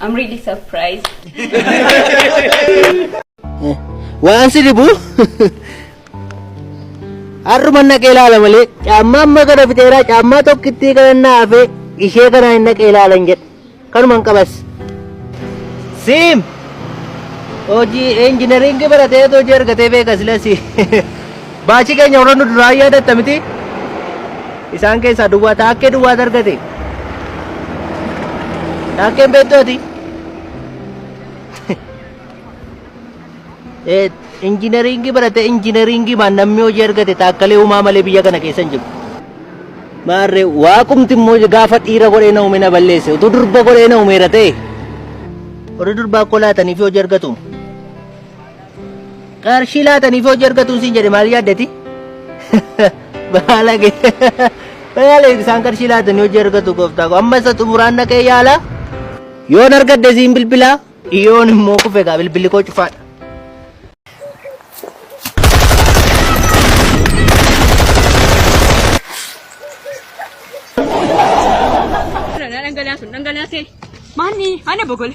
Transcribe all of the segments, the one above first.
I'm really surprised. Waan si dhibu har'uma naqee ilaala malee caammaa amma kana fixeeraa caammaa tokkittii kana naa hafee ishee kana hin naqee ilaalan jedhe kanuman qabas. Siim hojii injinariingii baratee hojii argatee beeka silasi. Baachii keenya warra nu duraa yaadatta miti isaan keessaa duwwaa taakkee duwwaa argate taakkeen beektu ati Eh, injinariingii barate injinariingii maan namni hojii argate taakkalee uumaa malee biyya kana keessa hin jiru. Maarree waaqumti immoo gaafa dhiira godhee na uume na balleesse utuu durba godhee na uumeera ta'e. Warri durbaa kolaatanii fi hojii argatu. Qarshii laataniif hojii argatuun siin jedhe maal yaaddati? Baalage. Baalage isaan qarshii laatanii hojii argatu gooftaa koo. Amma isa xumuraan dhaqee yaala. Yoon argadde siin bilbilaa. Yoon immoo kufe egaa bilbilli koo cufaadha. Dhangalaa sun dhangalaasee. Maanni ana bogole.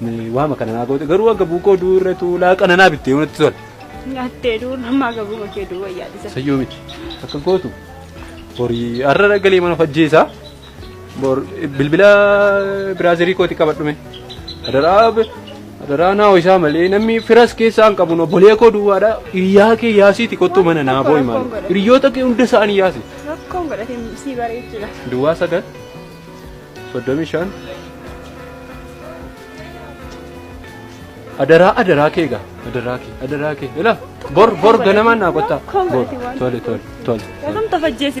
Ni waama kana naa goote garuu akka buukoo duu irra tuulaa qana naa bittee yoo natti tola. Nyaattee duu namaa gabuma kee duu wayyaa dhisa. Sayyoo miti akka gootu horii har'a galee mana fajjeessaa bor bilbila biraazerii kooti qabadhume adaraa adaraa naa ho'isaa malee namni firas keessaa hin qabu obbolee koo duwwaadha iyyaa kee yaasiiti kottuu mana naa boo'i maal hiriyoota kee hunda isaanii yaasi Rakkoon godhatee sii bareechudha. duwwaa sagal soddomii shan adaraa adaraa kee egaa adaraa kee adaraa kee ila bor bor ganamaan naa qottaa bor tole tole tole Yookaan tafajjeessi.